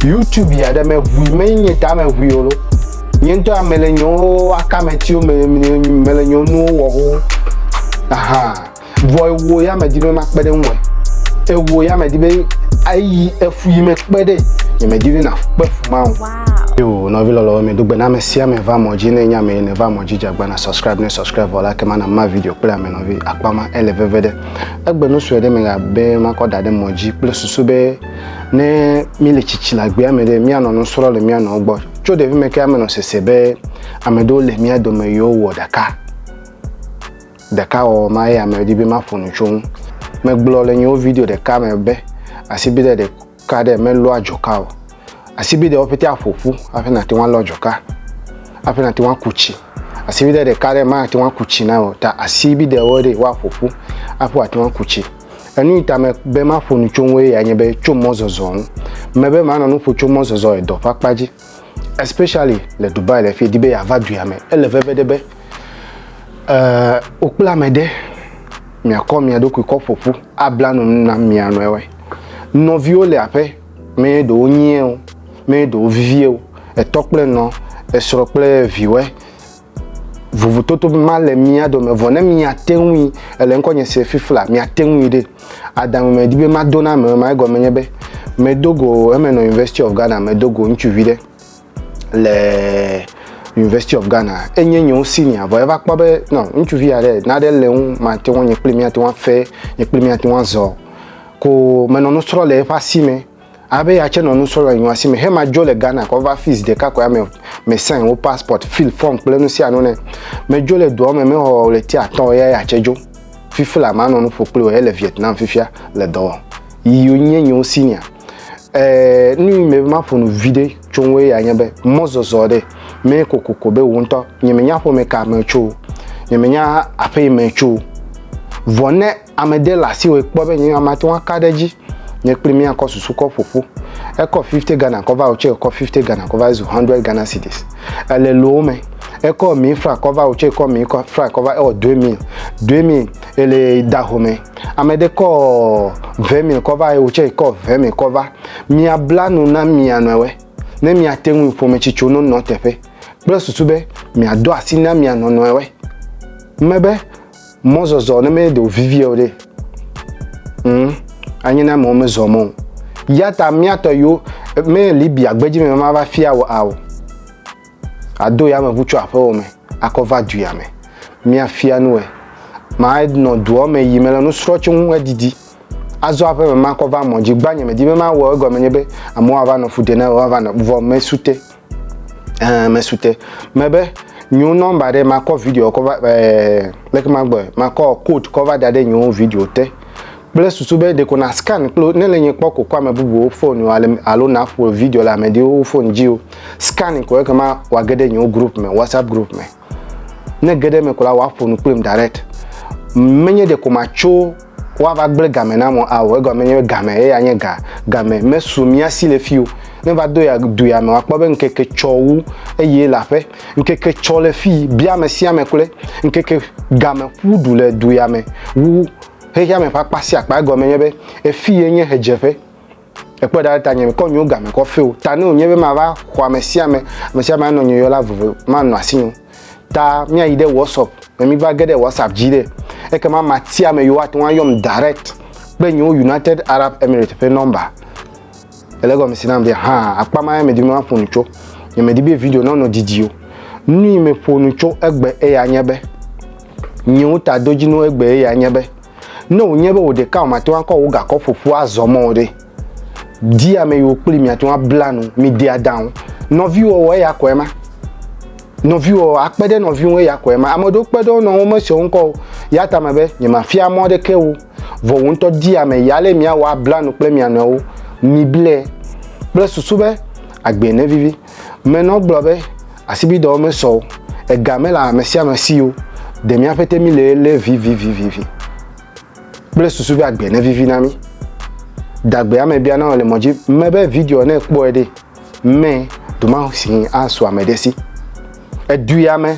YouTube ya ɖe meʋui menye nye ta meʋui o lo nye ŋutɔ ya mele nyewo akametiwo me mele nyewo nuwo wɔ ho aha vɔ ewo ya medi be makpe ɖe ŋue ewo ya medi be ayi efu yi mekpe ɖe nye medi be nakpe fu ma o. Yo nɔvi lɔlɔ me do gbe na ame sia ame va mɔ dzi ne nya me ne va mɔ dzi jagba na subscribe ne subscribe vɔ la ke ma na ma video kple ame nɔvi akpa ma ele veve ɖe egbe nu sue ɖe me ga be makɔ da ɖe mɔ dzi kple susu be ne míle tsitsi le agbea me ɖe míanɔ nusrɔ̃ le mía nɔwo gbɔ tso ɖevi me ke amenɔ sese be ame ɖewo le mía dome yewo wɔ ɖeka ɖeka wɔwɔ ma ye ame di be maƒo nu tso ŋu megblɔ le nyewo video ɖeka me be asibide ɖeka ɖe melɔa dzoka o asibidewo ƒete aƒoƒu hafi nate ŋu alɔ dzoka hafi nate ŋu aku tsi asibide ɖeka ɖe mate ŋu aku tsi na o ta asibidewo ɖe woaƒoƒu hafi wòate ŋu aku tsi Enu yi ta me be maƒo nu tso ŋue ya nye be tso mɔzɔzɔ ŋu. Mebe manɔ nu ƒo tso mɔzɔzɔ le dɔ ƒe akpa dzi. Especially le Dubai le fi di be yeava duya me. Ele veve ɖe be euh wokple ame ɖe miakɔ mia ɖokui kɔ ƒoƒu abla nu na mia nɔewe. Nɔviwo le aƒe me ɖewo nyieo, me ɖewo vivie o. Etɔ kple nɔ, esrɔ̃ kple viwɔe. Vovototo ma le mía dome vɔ ne miate ŋui, ele ŋkɔnye se fifi la, miate ŋui ɖe. Adamu me di be mado na ame ma, egɔme nye be medo go eme nɔ University of Ghana, medo go ŋutsuvi ɖe le University of Ghana. Enye nye senior, vɔ eva kpɔ be no, ŋutsuvi aɖe naɖe le ŋu mate ŋu nye kple mía te ŋu afe, nye kple mía te ŋu azɔ. Ko menɔ nu srɔ̃ le eƒe asi me. Abe ya tse nɔ nu srɔ̃ le nyɔa si me he ma dzo le Ghana kɔ va fii zi ɖeka koe ame me sign wo passport, fill form kple nu sia nu ne. Me dzo le dɔa me me xɔ ɣleti atɔ̃ eya ya tse dzo. Fifi la ma nɔ nu ƒo kpli wo ele Vietnam fifia le dɔ wɔm. Yi yo nye nyewo senior. Eh, nu yi me ma ƒo nu vi ɖe tso ŋu eya nye be mɔ zɔzɔ ɖe me kokoko be wo ŋutɔ nye me nya ƒome ka me tso, nye me nya aƒe yi me tso. Vɔ ne. Ame de le asi wòe kpɔ be nye mate ŋu aka ɖe edzi. Nye kpli mía kɔ susu kɔ ƒo ƒu. Ekɔ fifty Ghana kɔ va wòtsɔe kɔ fifty Ghana kɔ va ezu hundred Ghana cedis. Ele lowo me. Ekɔ emi fra kɔ va wòtsɔe kɔ emi kɔ fra kɔ va ewɔ due mil. Due mil ele da ho me. Ame ɖe kɔ ve mil kɔ va eye wòtsɔe kɔ ve mil kɔ va. Mia bla nu na mia nɔewe ne mia te ŋui ƒome tsi tso no nɔ teƒe kple susu be mia do asi na mia nɔ nɔewe. Mebe mɔzɔzɔ ne mede o vivia o ɖe mm, anyi na amewo mezɔ mɔ o ya ta míatɔ yiwo me libya gbedzi me mava fia o ao ado ya me ʋu tso aƒewo me akɔ va duya me míafia nuwe manɔ duɔ me yi mele nusrɔ tso ŋu edidi azɔ aƒe me makɔ va mɔ dzi gbanye medi be mawɔ egɔme nye be amewo ava nɔ fu de na woava nɔ vɔ mesute ɛɛ mesute mebe nyo nɔmba ɖe makɔ video kɔ va ɛɛ leke magbɔe makɔ code kɔ va da ɖe nyo video te kple susu be ɖeko na scan kple ne le nye kpɔ ko kɔ ame bubuwo fone ale alo na ƒo video le ameɖewo fone dzi o scan ko ekema wage ɖe nyo group me whatsapp group me Ne ge ɖe eme ko la, woaƒo nu kplim direct. Menye ɖeko matso woava gblẽ game nam o ao. Egɔme nye be game ye ya nye ga. Game mesu mía si le fii o. Ne va do ya du ya me, wòakpɔ be ŋkeke tsɔ wu eye le aƒe. Ŋkeke tsɔ le fii bia ame sia ame kloe. Ŋkeke game ƒu du le du ya me wu xexeame ƒe akpa sia akpa. Egɔme nye be, efii ye nye ʋedzeƒe. Ekpɔe ɖa ɖe tanye mekɔ nyewo game kɔ feo ta ne wònye be mava xɔ ame sia ame ame sia ame anɔ nye yɔla vovo manɔ asi nyo ta míayi ɖe whatsapp me mi va ge ɖe whatsapp dzi ɖe ekema matia ame yiwo ate ŋu ayɔm direct kple nyewo united arab emirates ƒe nɔmba ele gɔme si nam be hã akpa ma medi be maƒo nu tso nye medi be video nɔnɔ didi o nui meƒo nu tso egbe eya nye be nyewo ta do dzi no egbe eya nye be Ne wònye be wò ɖeka wòmate ŋu akɔ wò gakɔ ƒoƒu azɔ mɔ o ɖe? Di ame yiwo kpli miate ŋu abla nu, mide adaŋu. Nɔviwɔwɔ eya kɔe ma. Nɔviwɔwɔ, akpe ɖe nɔvi ŋu eya kɔe ma. Ame aɖewo kpe ɖe wo nɔewo ŋu mesea wo ŋkɔ o. Ya ta mebe nyemafia mɔ aɖeke wo. Vɔ wò ŋutɔ di ame yi ale miawɔ abla nu kple mia nɔewo. Miblɛ kple susu be agbee nevivi. Menɔ gblɔ be asibidɔwo mesɔ o, ega mele ame sia ame si o, ɖe míaƒe te mílé lé vivivivivi kple susu be agbe nevivi na mí. Dagbe ame bia na wò le mɔ dzi mebe video ne kpɔe ɖe, me ɖomahsi asu ame ɖe si. Edui ame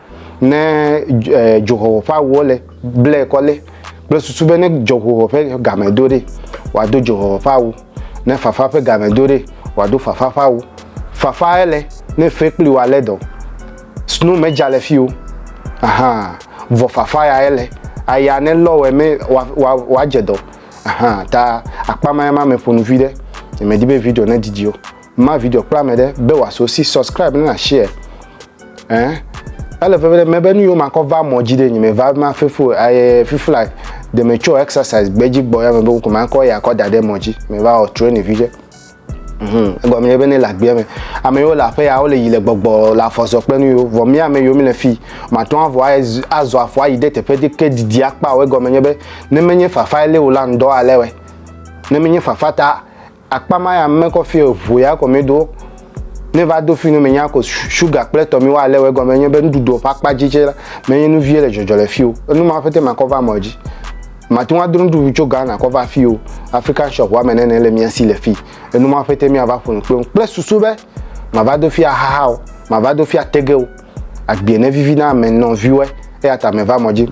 Ne dzoxɔxɔ ƒe awuwo le, blɛ kɔ le kple susu be ne dzɔxɔxɔ ƒe game do ɖe, wòado dzoxɔxɔ ƒe awu, ne fafa ƒe game do ɖe, wòado fafa ƒe awu. Fafa ele ne fe kpli wa le dɔ. Snow me dza le fi o. Aha, vɔ fafa ya ele. Aya ne lɔ wɛ me wa wa wa dze dɔ. Aha, ta akpa ma ya ma me ƒo nu vi ɖe. Nye me di be video ne didi o. ma video kple ame ɖe be wòaso si subscribe ne na share eh ele veve ɖe mebe nu yiwo makɔ va mɔ dzi ɖe nyime va ma fefu aye fefu like de me tso exercise gbedzi gbɔ ya me be ko makɔ ya kɔ da ɖe mɔ dzi me va wɔ training vi ɖe mhm egɔme ye be ne le agbea me ame yiwo le aƒe ya wole yi le gbɔgbɔ le afɔzɔ kple nu yiwo vɔ mi ame yiwo mi le fi matɔ avɔ aye azɔ afɔ ayi ɖe teƒe ɖe ke didi akpa o egɔme nye be ne menye fafa ele wo la ŋdɔ alewɛ ne menye fafa ta Akpa ma ya mekɔ fi o, vo ya kɔ medo. Ne va do fi no menya ko sugar kple tɔ mi wa ale wɔ gɔme nye be nuɖuɖu ƒe akpa dzi tse la, menye nu vie le dzɔdzɔ le fi o. Enu ma ƒete makɔ va mɔ dzi. Mate ŋu adro nuɖuɖu tso Ghana kɔ va fi o. African shop wa me nene le mia si le fi. Enu ma ƒete mia va ƒo nu kple ŋu kple susu be mava do fi ahaha o, mava do fi atege o. agbie ne vivi na ame nɔ viwɛ eya ta me va mɔ dzi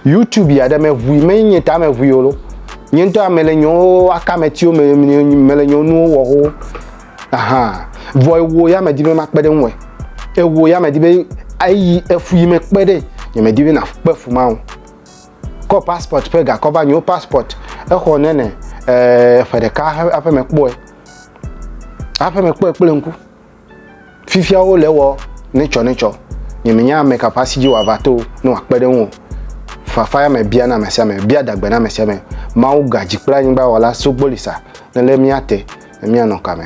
youtube ya ɖe me ʋui me nye ta me ʋui o nye ŋutɔ ame le nyewo aka me tiwo me me le nyewo nuwo wɔ ho aha vɔ ewo ya me di be ma kpe ɖe ŋu ewo ya me di be ayi efu yi me kpe ɖe nye me di be na kpe fu ma o kɔ passport ƒe gakɔ va nyewo passport exɔ ne ne eh, ƒe ɖeka aƒe me kpɔe aƒe me kpɔe kple ŋku Fifia wole ewɔ netsɔnetsɔ. Nye menya ame ka ƒe asi dzi wòava to ne wòakpe ɖe eŋu o. Fafa ya me biana ame sia ame, bia adagbe na ame sia ame. Mawu ga dzi kple anyigba wɔla sogboli sa ne lé mía te ne míanɔ ka me.